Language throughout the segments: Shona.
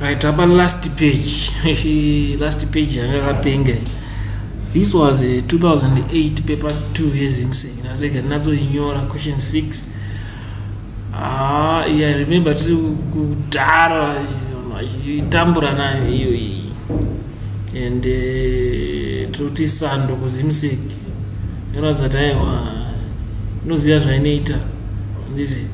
right apa last page last page yanga kapenga this was a 2008 paper 2 yezimsec ndatega ndinatsoinyora question 6 ah yeah, i remember tiri kudhara itambura nayo iyo iyi and uh, toti sando kuzimsec Ndoratidza kuti aiwa ndoziva zvainoita handiti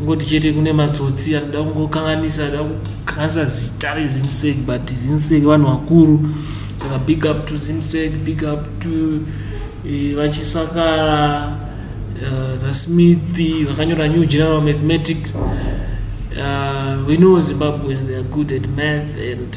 ngoti chete kune matsotsi anoda kungokanganisa ada kukanganisa zita rezimsek but zimsek vanhu vakuru saka big up to zimsek big up to eh, vachisakara eh, thesmith vakanyora new general mathematics uh, we know zimbabweans they are good at math and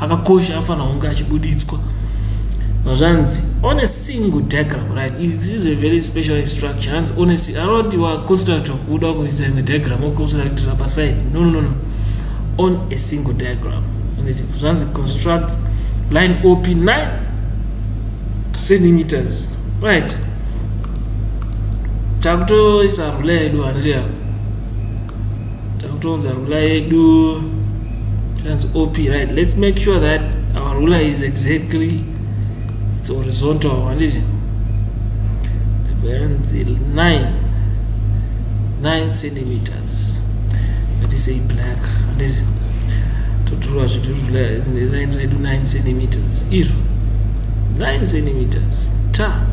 akakosha afanira kunge achibuditswa zvanzi on a single diagram right this is a very special instruction hanzi on a anoti waconstructor kuda kuisa imwe diagram oconstructira paside no no no no on a single diagram zvanzi construct line op 9 centimeters right takutoisa rule yedu handiya takutounza rula yedu tikanzi op right let's make sure that our rula is exactly its horizontal handiti vanzi 9 9 centimeters ngatisei black handiti totirwa zvitu line redu 9 centimeters izvo 9 centimeters ta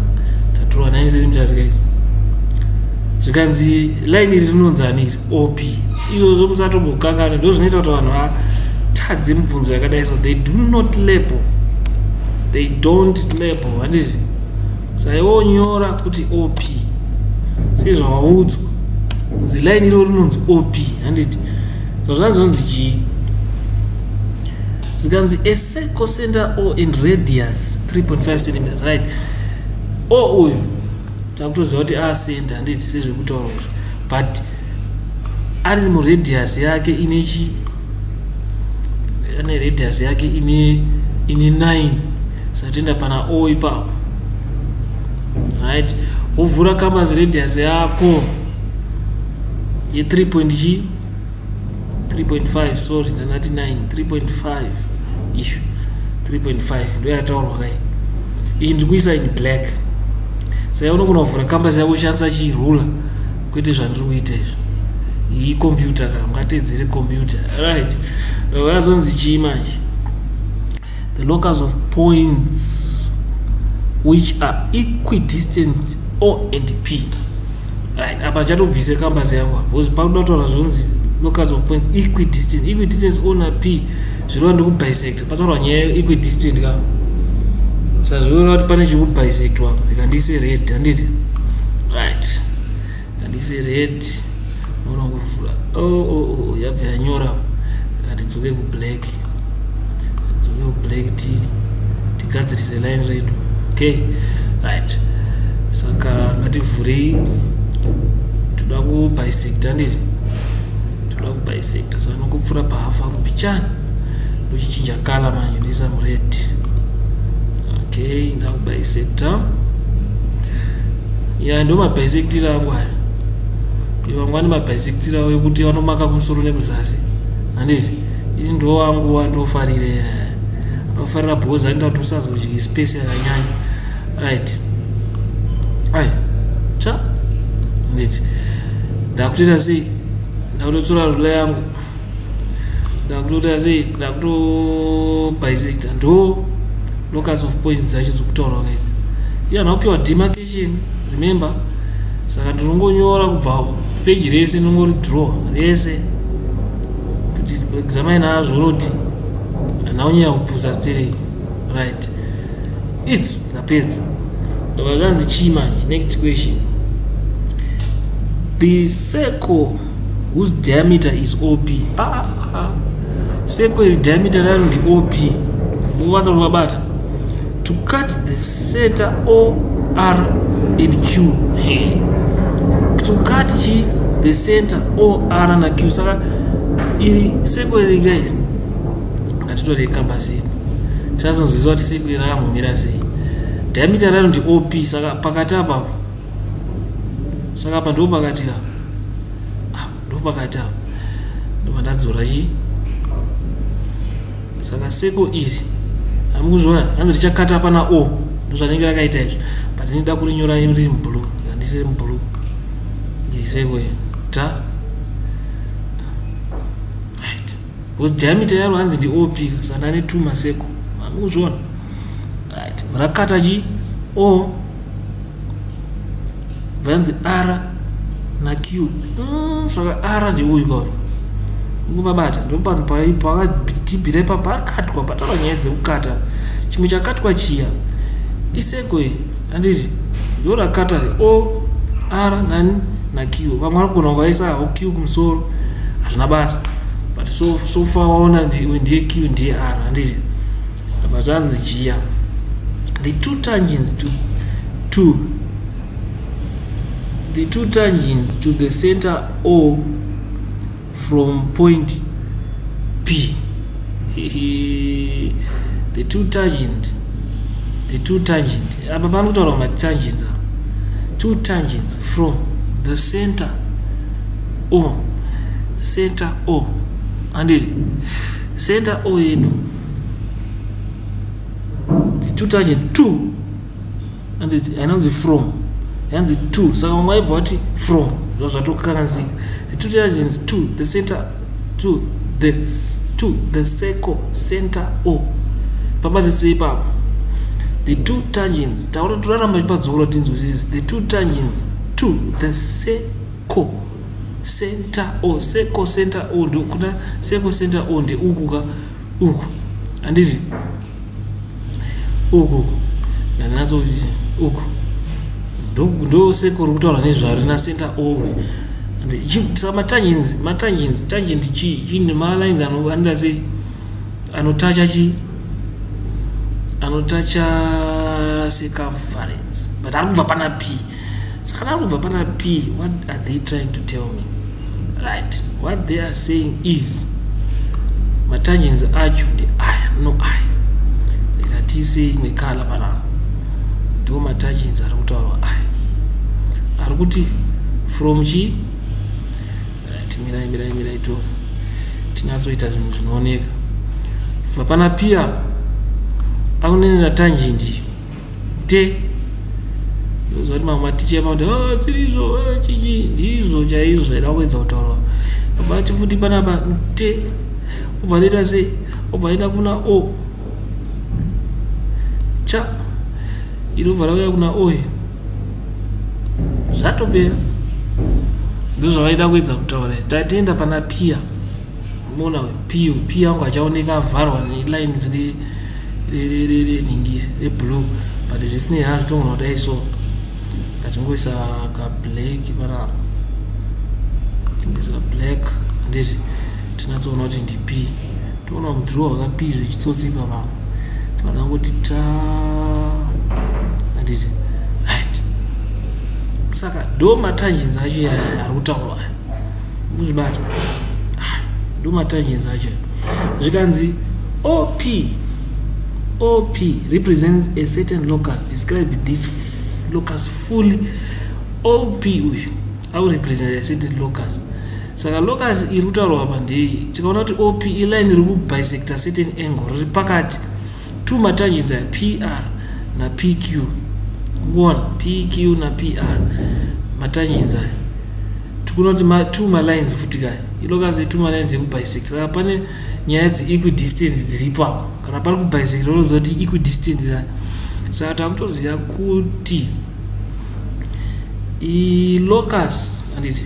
tatirwa 9 centimeters guys zvikanzi line iri rinonzi ani iri op izvozvo musatombokanganwa ndo zvinoita kuti vanhu vatadze mibvunzo yakadai so they do not label they don't label handizvi saiwo nyora kuti op sezvawaudzwa kunzi line iro rinonzi op handiti so zvanzonzi chii zvikanzi a circle center or in radius 3.5 centimeters right o uyu takutoziva kuti asend handiti sezviri kutaurwa izvo but ari muradius yake ine chi ane radius yake ine ine 9 satoenda pana o ipapo right wovhura kambas radius yako ye 3 point chii 3.5 sorry ndanati 9 3.5 ishu 3.5 ndo yataurwa kai iyi ndiri kuisa in black sai unogona kuvhura kamba sai woshandisa chirula kwete zvandiri kuita izvo iyi computer ka ungateedzere computer right vazonzi chii manje the locus of points which are equidistant o and p right apa chatobvise kambasi yangu apa because pakuda kutaura zvonzi locus of points equidistant equidistance o na p zvirova ndikubisector pataurwa nyaya yeequidistant ka sazviona kuti pane chikubisector ndikandiise red handiti right kandise red noona kuvhura o oh, o oh, o oh, yabva yanyora katidzoke kublack tidzoke kublack ti tigadzirise line redu okay right saka ngativhurei toda kubisecta ndiri toda kubisecta saka nokupfura pahafu ako pichani ndochichinja kala manje ndoisa mured okay ndakubisecta ya ndo mabhaisekitiri angu aya ivangu ane mabhaisekitiri avo ekuti vanomaka kumusoro nekuzasi handiti ini ndo angu andofarire anofarira bhozi anoita kuti usazodyi space yakanyanya right ai cha handiti ndakutoita sei ndakutotsora rula yangu ndakutoita sei ndakutobisecta ndo locus of points dzacho dzokutaurwa kaita iyo ndakupihwa demarcation remember saka ndinongonyora kubva peji rese ndingori draw rese kuti examine azvo roti anaunyaya kupusa sterei right its ndapedza ndobva zvanzi chii manje next question the circle whose diameter is op ah, ah, ah. ah. seko iri diameter rayo ndi op uvanza kuti vabata to cut the center o r and q to cut chi the center o r na q saka iri seko iri gai ngatitore kamba sei tinazonzwiswa kuti seko iri rakamhomira sei diameter rayo ndi op saka pakati apapo saka apa ndo pakati ka ah, ndo pakati apa ndobva ndadzora chi saka seko iri hami kuzviona hanzi richakata pana o ndozvanenge rakaita izvi but ndinoda kurinyora riri mublu handisiri mublu ndiseko ta because diameter yaro hanzi ndi op saka ndane two maseko amuzviona right rakata chi o vanzi r na q mm, saka r ndi uyu kauyu ngumabata ndopanhu pakadhibhira ipa pakatwa pataura nyaya dzekukata chimwe chakatwa chiya iseko iyi handiti ndo rakata o r nani naq vamwe vari kugona kuvaisa ho q kumusoro hazvina basa but so, so far waona ndiye q ndiye r handiti apa zvanzi jia the two tangents to, to the two tangents to the center o from point p the two tangent the two tangent apa pano kutaura matangents a two tangents from the center o center o andiri center o yedu the two tangent two handiti hainanzi from yanzi to saka vamwe vaibva vati from zva zvatokanzi the two diligence to the center to the to the circle center o pabatisei ipapo the two tangents taura toraramba chipadzora tinzwisisi the two tangents to the circle center o circle center o ndokuda circle center o ndeukuka uku handiti uku uku ndandinatso uku ndose kuri kutaura nezvaro na center ove matangenzi matangenzi tangent chii chii nemalines anoanira sei anotacha chii anotacha circumference but ari kubva pana pii saka ndava kubva pana p what are they trying to tell me right what they are saying is matangents acho ndi aya no aya reka tiise imwe kala panapa ndiwo matangents ari kutaurwa aya ari kuti from chi right mirai mirai mirai to tinyatsoita zvinhu zvinooneka vapana pia akunenera tangent iyo te ndoziva kuti mamwe maticha emakuti oh, siri izvo oh, chichi ndizvo chaizvo zvaida kuedza kutaurwa abva ati futi panapa te obva anoita sei obva aenda kuna o cha inobva rauya kuna oy zvatopera ndozvavaida kuedza kutaura tatienda pana piya mona p p yangu achaoneka avharwa neline riri reningi reblue but zvisinei ha zvitongona kudai so ngatingoisa kablack panapa tingoisa kablack ndizvi tinatsoona kuti ndip toona mudrow wakapi zvechitsotsi papa tinoda kuti ta anditi right saka do matangenzi acho ari kutaurwa kuzvibata ah, ndomatangenzi acho zvikanzi op op represents a certain locus describe this locus fully op uyu aurepresent a certain locus saka locus iri kutaurwa apa ndei tikaona kuti op iline riri kubisector certain angle riri pakati two matargets aya pr na pq one pq na pr matargets aya tikuona kuti ma, two malines futi kaya ilo kazi two malines ekubisect saka pane nyaya dziequidistant dziripo apo kana pari kubisect unoziva kuti equidistant kaya saka takutoziva kuti ilocus anditi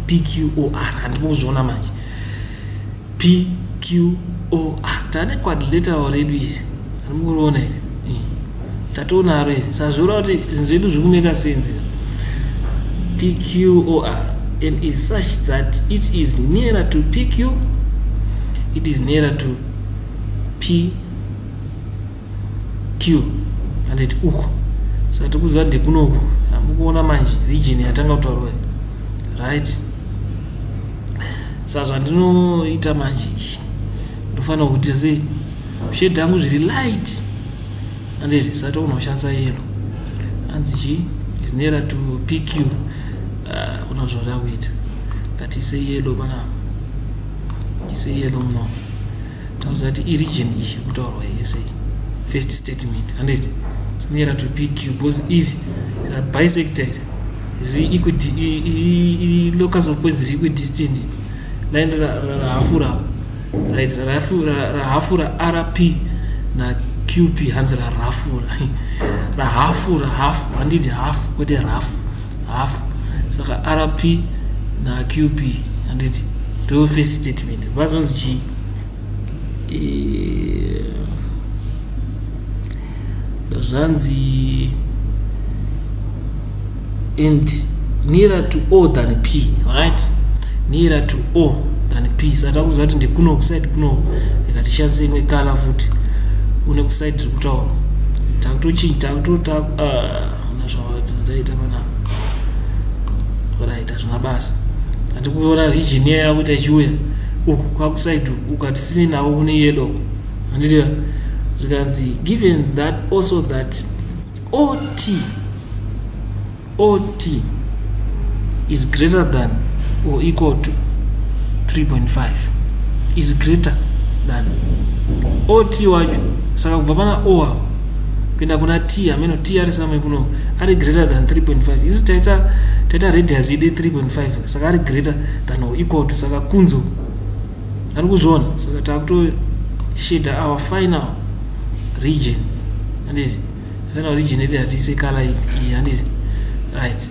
pqor handipo kuzviona manje pqor tane quadrilateral redu iri handimukuriona iri hmm. tatoonaro iri sazviona kuti zvinhu zvedu zviri kumeka senzi pqor and is such that it is nearer to pq it is nearer to p q anditi uku saka tikuziva ndekunoku hamukuona manje region yatanga kutaurwa right sa zvandinoita manje izvi ndofanira kuti sei shade angu zviri light anditi sati unoshandisa yero hanzi chi is nearer to pq uh, una zvauri akuita ngatise yelo panapa tise yelo munomo tauza kuti iregion iyi iri kutaurwa yese first statement handei sinoera to pq because iri uh, bisector iri locus of points riri equidistant line rahafura right rahafura rp na qp hanzi rarafura rahafu rahafu handiti hafu kwete rafu half saka rp na qp handiti ndo first statement vazonzi chii eh, zvanzi and nearer to o than p right nearer to o than p saka takuziva kuti ndekuno kusaidi kuno ndikatishandisa imwe kala futi une kusaidi rikutaura takutochinja takuto uh, hauna zvataita pana oraita zvina basa handi kuona region iya yakuita ichiuya uku kwakusaidi ukati sini navo kune yedo handiti zvikanzi given that also that ot ot is greater than or equal to 3.5 is greater than ot wacho saka kubva pana o apo kuenda kuna t ameno t ari samwe kuno ari greater than 3.5 isu taita taita radius ide 3.5 saka ari greater than or equal to saka kunzo ari kuzviona saka takuto shader our final region anditi final region ede hatiise kala iyi anditi right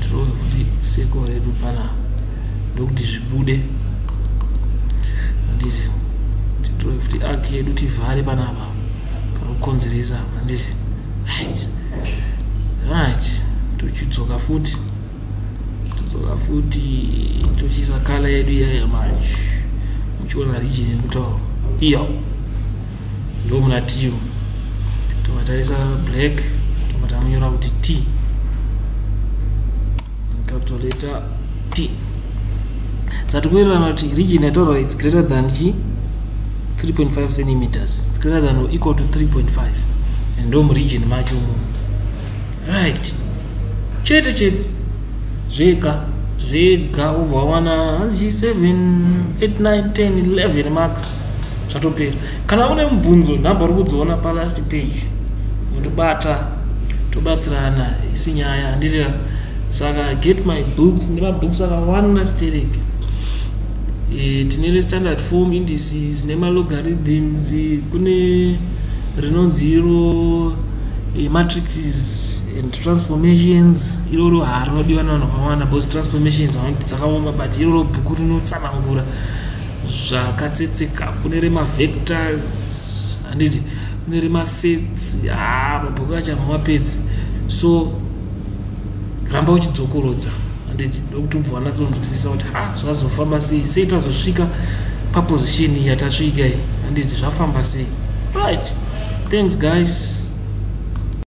tirowe futi seko redu pana ndokuti zvibude handiti tirowe futi ak yedu tivhare panapa panokonzeresa handiti right right tochidzoka futi todzoka futi tochiisa kala yedu iyaya manje muchiona rijini yekutaura iyo ndo muna tiyo tobva taisa black tobva tamunyora kuti t capital letter t sati kuwirirana kuti region yataura its greater than chi 3.5 centimeters greater than or equal to 3.5 and ndo muregion macho mu right chete chete zvega zvega ubva wawana hanzi chi 7 8 9 10 11 marks zvatopera kana une mubvunzo nhamba uri kudziona palast page undibata tobatsirana isi nyaya handiti saka get my books nemabooks akawanda sterek e, tine restandard form indices nemalogarithms kune rinonzi iro e, matrixes and transformations iroro harinodiwa navanhu vakawanda bcause transformations dzakaoma but iroro bhuku rinotsanangura zvakatsetseka kune remavectors handiti kune remasets haa mabhuku acho hamamapedzi so ramba uchidzokorodza handiti ndokuti ubva wanatsonzwisisa kuti ha zvazofamba sei sei tazosvika paposition yatasvika iyi handiti zvafamba sei right thanks guys